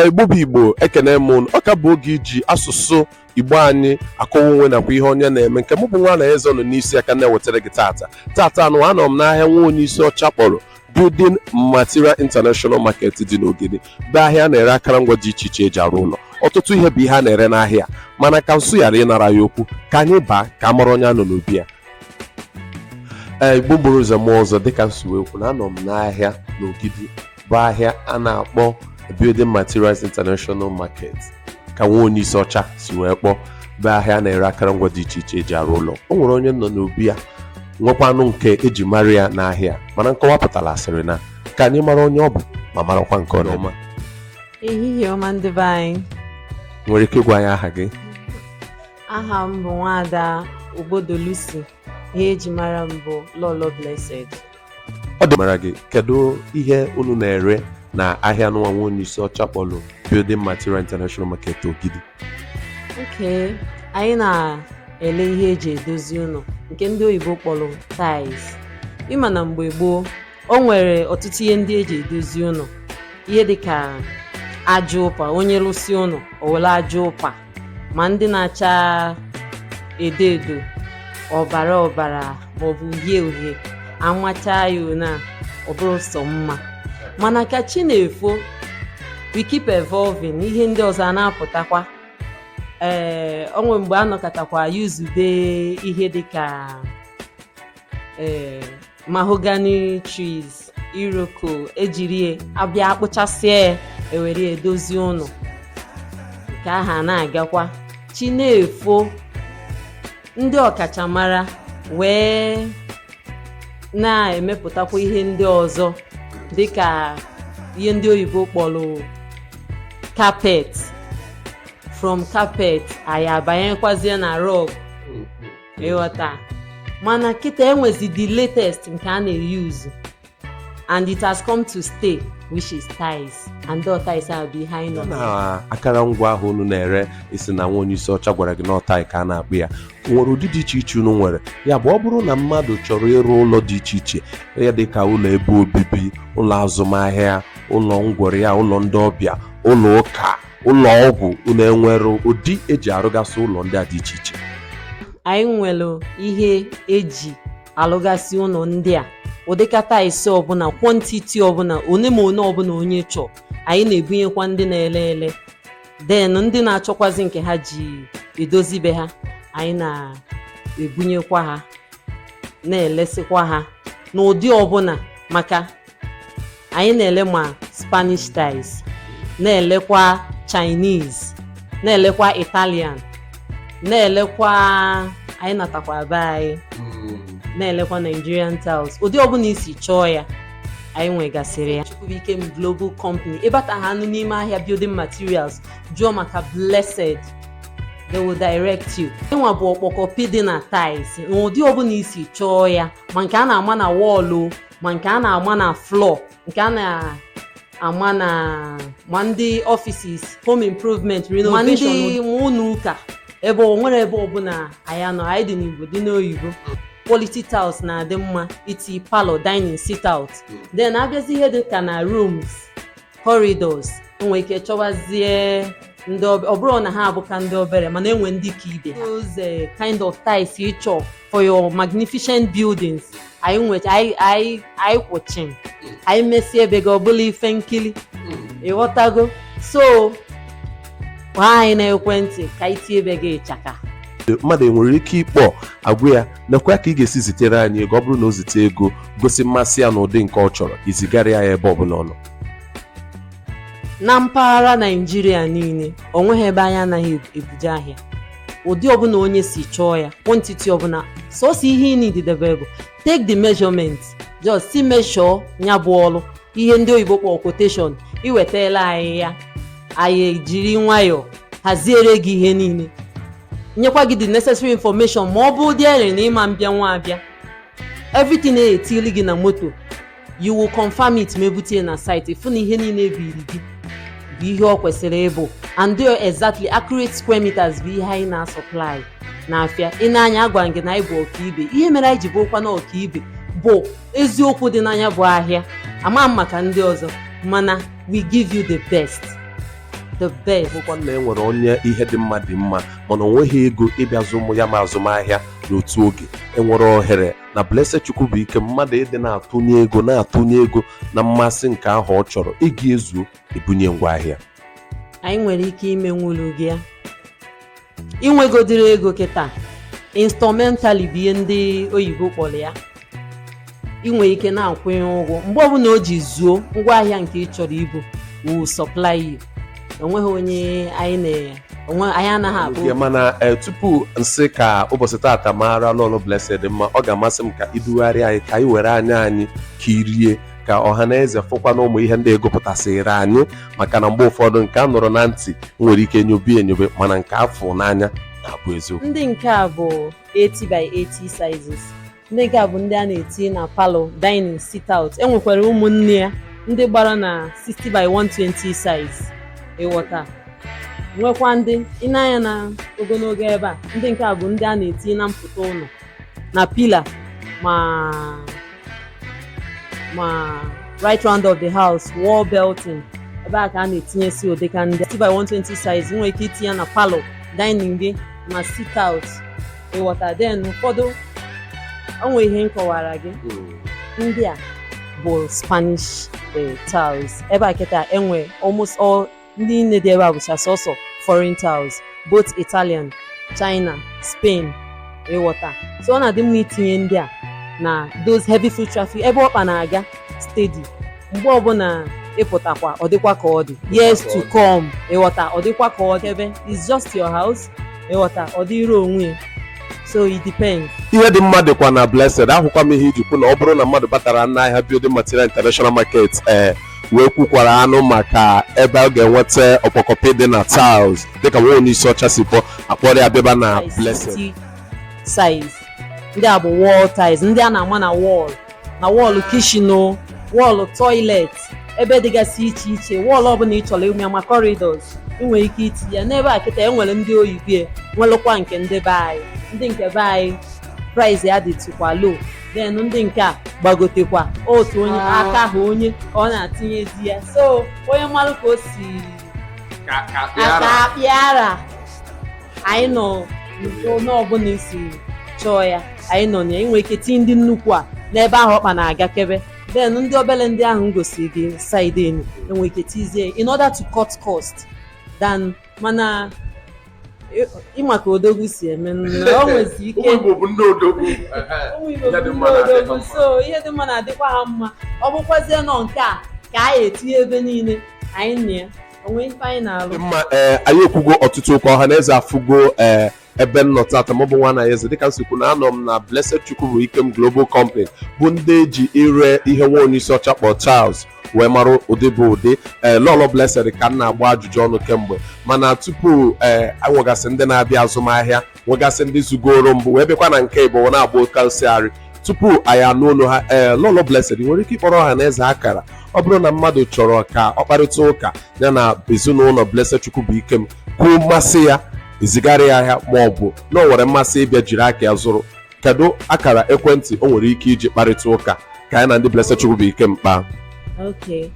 Igbo bụ Igbo ekene m unu ọ ka bụ oge eji asụsụ Igbo anyị akọwa onwe nakwa ihe onye na-eme nke mụ bụ nwa na eze nọ n'isi aka na-ewetara gị tata tata nwa anọ m n'ahịa nwa onye isi ọcha kpọrọ Building Material International Market dị n'Ogidi bụ ahịa na-ere akụrụngwa dị iche iche eji arụ ụlọ ọtụtụ ihe bụ ihe a na-ere n'ahịa mana ka nsụ ghara ịnara ya okwu ka anyị baa ka a mara onye a nọ n'obi ya ee Igbo mụrụ nze mụọ ọzọ dịka m si wee kwuo na anọ m n'ahịa n'Ogidi bụ ahịa a na-akpọ Building Materials International Market ka nwa onye isi ọcha si wee kpọọ bụ ahịa a na-ere akụrụngwa dị iche iche eji arụ ụlọ o nwere onye m nọ n'obi ya nwekwanụ nke eji mara ya n'ahịa mana nkọwa pụtara asịrị na ka anyị mara onye ọ bụ ma marakwa nke ọ na-eme ehihie ọma ndị be anyị nwere ike ịgwa anyị aha gị aha m bụ Nwaada Obodo Lucy ihe eji mara m bụ Lọlọ Blessed ọ dị mara gị kedu ihe unu na-ere na ahịa nwa nwa onye isi ọcha kpọlụ Building Material International Market Ogidi okay anyị na-ele ihe eji edozi ụnọ nke ndị oyibo kpọlụ tiles ị ma na mgbe gboo o nwere ọtụtụ ihe ndị eji edozi ụnọ ihe dịka aja ụpa onye lụsịa ụnọ o were aja ụpa ma ndị na-acha edo edo ọbara ọbara maọbụ uhie uhie amacha ya na ọ bụrụ sọ mma mana ka chi na-efo we keep evolving ihe ndị ọzọ a na-apụtakwa ee o nwere mgbe a nọkatakwa yuzube ihe dịka ee eh, mahogany trees iroko ejiri abịa akpụchasịa ya ewere edozi ụnọ ka ahọ na-agakwa chi na-efo ndị ọkachamara wee na-emepụtakwa ihe ndị ọzọ dịka ihe ndị oyibo kpọrọ carpet from carpet anyị abanyekwazie na rug ị ghọta mana kịta enwezi the latest nke a na-eyuzu and it has come to stay which is tiles and the tiles ahụ bụ ihe anyị nọ na akara ngwa ahụ unu na-ere ị sị na nwa onye isi ọcha gwara gị na ọ tile ka a na-akpọ ya nwere ụdị dị iche iche unu nwere ya bụ ọ bụrụ na mmadụ chọrọ ịrụ ụlọ dị iche iche ya dị ka ụlọ ebe obibi ụlọ azụmahịa ụlọ ngwọrị ya ụlọ ndị ọbịa ụlọ ụka ụlọ ọgwụ unu enwere ụdị eji arụgasị ụlọ ndị a dị iche iche anyị nwere ihe eji alụgasị ụlọ ndị a ụdịkwa tiles ọbụna quantity ọbụna one ma one ọbụna onye chọọ anyị na-ebunyekwa ndị na-ele ele then ndị na-achọkwazi nke ha ji edozi be ha anyị na-ebunyekwa ha na-elesikwa ha n'ụdị ọbụna maka anyị na-ele ma spanish tiles na-elekwa chinese na-elekwa italian na-elekwa anyị natakwa be anyị na-elekwa nigerian tiles ụdị ọbụla i si chọọ ya anyị nwegasịrị ya Chukwubuikem Global Company ị bata ha nụ n'ime ahịa building materials jụọ maka blessed they will direct you anyịnwa bụ ọkpọkọpi dị na tiles n'ụdị ọbụla i si chọọ ya ma nke a na-ama na wall ma nke a na-ama na floor nke a na-ama na ma ndị offices home improvement renovation ma ndị ụlọ ụka ebe o nwere ebe ọbụla anyị anọ anyị dị n'igbo dị n'oyibo quality tiles na-adị mma iti parlour dining sit out then abịazi ihe dị ka na rooms corridors e nwe ike chọwazie ndị ọ bụrụ na ha abụka ndị obere mana e nwe ndị ka ibe ha those kind of tiles ị chọ for your magnificent buildings anyị kwụ chịm anyị mesịa ebe gị ọ bụlụ ife nkili ị ghọtago so kpọọ anyị n'ekwentị ka anyị tie ebe gị ịchaka mmadụ enwere ike ịkpọ a gwa ya nakwa ka ị ga-esi zitere anyị ego ọ bụrụ na o zite ego gosi mmasị ya n'ụdị nke ọ chọrọ i zigara ya ebe ọbụla ọ nọ na mpaghara naijiria niile o nweghị ebe anyị anaghị ebuje ahịa ụdị ọbụla onye si chọọ ya quantity ọbụla sọsọ ihe ị need idebe bụ take the measurement just si measure ya bụ ọrụ ihe ndị oyibo kpọrọ quotation i wetala anyị ya anyị ejiri nwayọọ haziere gị ihe niile nyekwa gị the necessary information ma ọ bụ ụdị ere na ị ma mbịanwu abịa everything na-etili gị na moto you will confirm it ma e bute na site ị fụ na ihe niile e biri gị bụ ihe ọ kwesịrị ịbụ and do exactly accurate square meters bụ ihe anyị na-supply n'afịa ị na-anụ ya a gwa gị na anyị bụ ọkaibe ihe mere anyị ji bụrụkwa na ọkaibe bụ eziokwu dị na nya bụ ahịa ama m maka ndị ọzọ mana we give you the best the best bụkwa na e nwere onye ihe dị mma dị mma mana o nweghị ego ịbịa zụnwu ya ma azụmahịa n'otu oge e nwere ohere na Blessed Chukwubuikem mmadụ ịdị na-atụnye ego na-atụnye ego na mmasị nke ahụ ọ chọrọ ego ezuo e bunye ngwaahịa anyị nwere ike imenwulu gị ya i nwegodiri ego kịta installmentally bụ ihe ndị oyibo kpọrọ ya i nwe ike na-akwụnye ụgwọ mgbe ọbụla o ji zuo ngwaahịa nke ị chọrọ ibu we'll supply you o nweghị onye anyị na onwe anyị anaghị abụ Ya mana eh, tupu m sị ka ụbọchị tata mara lọlọ blessed mma ọ ga-amasị m ka i dugharị anyị ka anyị were anya anyị kirie ka ọha na eze fụkwa na ụmụ ihe ndị ị gụpụtasịrị anyị maka na mgbe ụfọdụ nke a nụrụ na ntị nwere ike nyobe enyobe mana nke a fụ n'anya na-abụ eziokwu ndị nke a bụ 80 by 80 sizes ndị nke a bụ ndị a na-eti na palọ dining sit out e nwekwara ụmụnne ya ndị gbara na 60 by 120 size ịghọta nwekwa ndị ị nee anya na ogologo ebe a ndị nke a bụ ndị a na-eti na mpụta ụlọ na pila ma right round of the house wall belting ebe a ka a na-etinyesi ụdịka ndị 60 by 120 size nwere ike itinye na palọ dining gị ma sit out ịghọta then ụfọdụ o nwe ihe m kọwara gị hmm. ndị a bụ spanish eh, tiles ebe a kịta enwe almost all ndị niine dị ebe a bụcha sọsọ foreign tiles both italian china spain ịghọta so ọ na-adị mma itinye ndị a na those heavy foot traffic ebe ọkpa na-aga steady mgbe ọbụla ịpụtakwa ọ dịkwa ka ọ dị years to come ịghọta ọ dịkwa ka ọ dị ebe it's just your house ịghọta ọ dịrị onwe ya so it depends. ihe dị mma dịkwa na blessed ahụkwa m ihe i ji kwu na ọ bụrụ na mmadụ batara n'ahịa building material international market ee wee kwukwara anụ maka ebe ọ ga-enweta ọkpọkọpị dị na tiles dịka nwa onye isi ọcha si kpọ a kpọrọ ya bịaba na blessed size ndị a bụ wall tiles ndị a na-ama na wall ma wall kitchen o wall toilet ebe dịgasị iche iche wall ọbụla ị chọrọ ịma ma corridors ị nwere ike itinye ya n'ebe a kịta e nwere ndị oyibo e nwelụkwa nke ndị be anyị ndị nke be anyị price ya dịtụkwa low then ndị nke a gbagotekwa otu onye aka ha onye ka ọ na-etinyezi ya so onye malụ ka o si Ka- ka aka pịara. akpịara anyị nọ n'ụlọ ọbụla i si chọọ ya anyị nọ na ya i nwe ike tinye ndị nnukwu a n'ebe ahụ ọkpa na-aga kebe then ndị obere ndị ahụ m gosiri gị side enu i nwe ike tizie in order to cut cost down mana ị- ị ma ka odogwu si eme nna, o nwezi ike ụmụ igbo bụ ndị odogwu ụmụ Igbo Ya bụ dị mma ndị na-adị ha odogwu mma. so ihe dị mma na-adịkwa ha mma ọ bụkwazie na ọ nke a ka anyị etinye ebe niile anyị na ya dị mma ee eh, anyị ekwugo ọtụtụ ụka ọha na eze afụgo ee eh, ebe m nọ tata mụ bụ Nwanyịeze dịka m si kwu na anọ m na Blessed Chukwubuikem Global Company bụ ndị e ji ire ihe nwa onye isi ọcha kpọ tiles wee mara ụdị bụ ụdị ee eh, lọlọ blessed ka m na-agba ajụjụ ọnụ kemgbe mana tupu ee eh, nwegasị ndị na-abịa azụmahịa nwegasị ndị zugoro mbụ wee bịakwa na nke ịbụa na-agba oke osiarị tupu anyị anụ olu ha ee lọlọ blessed nwere ike ịkpọrọ ọha na eze akara ọ bụrụ na mmadụ chọrọ ka ọ kparịta ụka ya na ezinụlọ blessed Chukwubuikem kwuo mmasị ya e zigara ya ahịa ma ọ bụ na o nwere mmasị ịbịa jiri aka ya zụrụ kedu akara ekwentị o nwere ike iji kparịta ụka ka ya na ndị blessed Chukwubuikem kpaa Okay.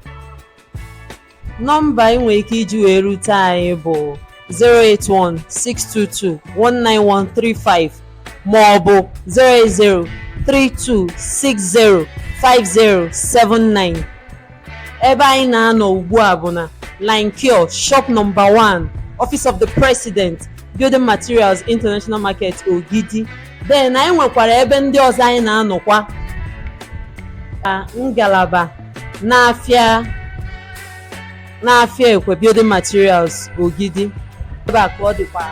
Nọmba ị nwere ike iji wee rute anyị bụ 08162219135 ma ọ bụ 08032605079 ebe anyị na-anọ ugbu a bụ na line Q shop number 1 office of the president building materials international market ogidi then anyị nwekwara ebe ndị ọzọ anyị na-anọkwa ngalaba n'afịa ekwe building materials ogidi ebe a ka ọ dịkwa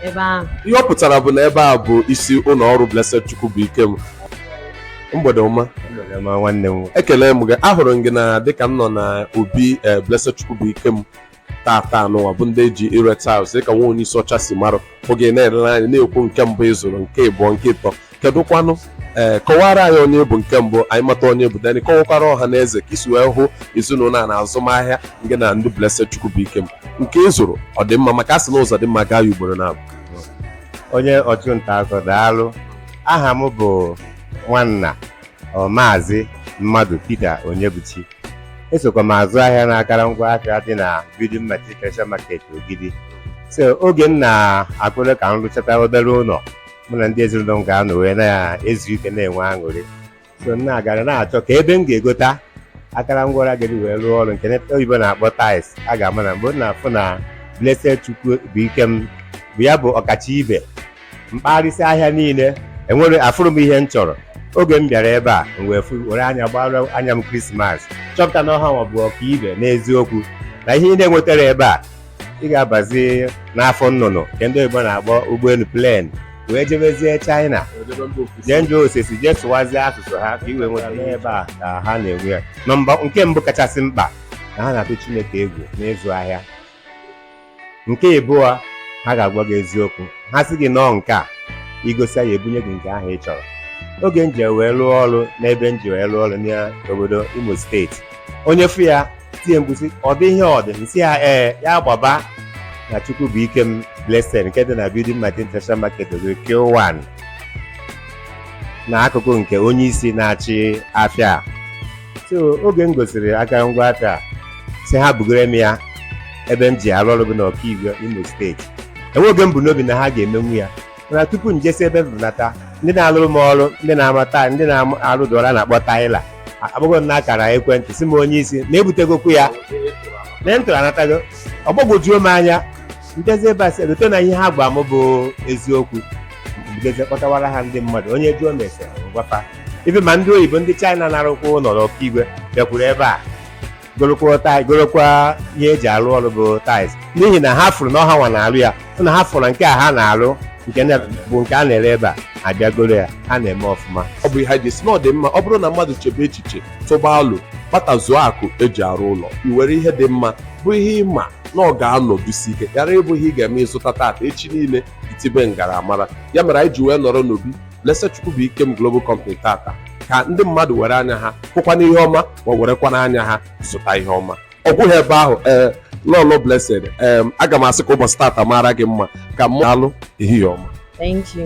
ebe ahụ ihe ọ pụtara bụ na ebe a bụ isi ụlọ ọrụ Blessed Chukwubuikem mgbede ọma nwanne m ekele m gị ahụrụ m gị na dịka m nọ na obi eh, Blessed Chukwubuikem tata nwa bụ ndị eji ire tiles dịka nwa onye isi ọcha si marụ oge na-elere anyị na-ekwu nke mbụ ị zụrụ nke ịbụọ nke ịtọ kedụkwanụ ee kọwara anyị onye ị bụ nke mbụ anyị mata onye ị bụ then ị kọwakwara ọha na eze ka i si wee hụ ezinụlọ a na azụmahịa nke na ndị Blessed Chukwubuikem nke ị zụrụ ọ dị mma maka a sị na ụzọ dị mma gaa ya ugboro naabọ onye ọchụnta akụ daalụ aha m bụ nwanna maazị mmadụ Peter Onyebuchi esokwa m azụ ahịa n'akara ngwa ahịa dị na Building Material International Market Ogidi so oge m na-akpụrụ ka m rụchata obere ụlọ mụ na ndị ezinụlọ m ga-anọ wee na-ezu ike na-enwe aṅụrị so m na-agara na-achọ ka ebe m ga-egota akara ngwa a ga-eji wee rụọ ọrụ nke ndị oyibo na-akpọ tiles a ga-ama na mgbe m na-afụ na Blessed Chukwubuikem bụ ya bụ ọkacha ibe m kpagharịsị ahịa niile e nwere afụrọ m ihe m chọrọ oge m bịara ebe a m wee fụ- were anya gbara anya m krismas chọpụta na ọ ha nwa bụ ọkaibe n'eziokwu na ihe ị na-enwetarọ ebe a ị ga-abazi n'afọ nnụnụ nke ndị oyibo na-akpọ ụgbọelu plen wee jebezie china jee njọ osisi jee sụwazie asụsụ ha ka i wee nweta ihe ebe a ka ha na-enwe ya nọmba nke mbụ kachasị mkpa na ha na-atụ chineke egwu n'ịzụ ahịa nke ịbụọ ha ga-agwa gị eziokwu ha sị gị nọọ nke a i gosi ya ebunye gị nke ahụ ị chọrọ oge m ji wee rụọ ọrụ n'ebe m ji wee rụọ ọrụ n'obodo imo steeti onye fụ ya tie mkpu sị ọ dị ihe ọ dị m sị ya ee ya gbaba na Chukwubuikem blessed nke dị na building material international market ogo Q1 na akụkụ nke onye isi na-achị afịa so oge m gosiri aka ngwa aka a sị ha bugara m ya ebe m ji arụ ọrụ bụ na Okigwe imo steeti enwerọ oge m bu n'obi na ha ga-emenwu ya mana tupu m jesi ebe m bụnata ndị na-alụrụ m ọrụ ndị na-ama tile ndị na-arụ dụra na-akpọ taịla akpọgoro m n'akara ekwentị sị m onye isi na ebutegokwu ya na moto anatago ọ gbagwojuo m anya m jezie ebe a sị egote na ihe ha gwa m bụ eziokwu m jezie kpọtawara ha ndị mmadụ onye jụọ m ese ngwafa ibe ma ndị oyibo ndị china na-arụkwa ụlọ na Ọkigwe bịakwuru ebe a gorokwa tai- gorokwa ihe eji arụ ọrụ bụ tiles n'ihi na ha fụrụ na ọ hanwa na-arụ ya hụ na ha fụrụ na nke a ha na-arụ nke na- bụ nke a na-ere ebe a a bịa goro ya ha na-eme ọfụma ọ bụ ihe anyị ji sị na ọ dị mma ọ bụrụ na mmadụ chebe echiche tụba alo kpatazuo akụ eji arụ ụlọ i were ihe dị mma bụ ihe ị ma na ọ ga-anọdụsi ike ghara ịbụ ihe ị ga-eme ị zụta tata echi niile i tibe ngaramara ya mere anyị ji wee nọrọ n'obi Blessed Chukwubuikem Global Company tata ka ndị mmadụ were anya ha hụkwana ihe ọma ma werekwana anya ha zụta ihe ọma ọ gwụghị ebe ahụ ee lọlọ Blessed em, aga m asị ka ụbọchị tata mara gị mma ka mụ alụ ehihie ọma Thank you.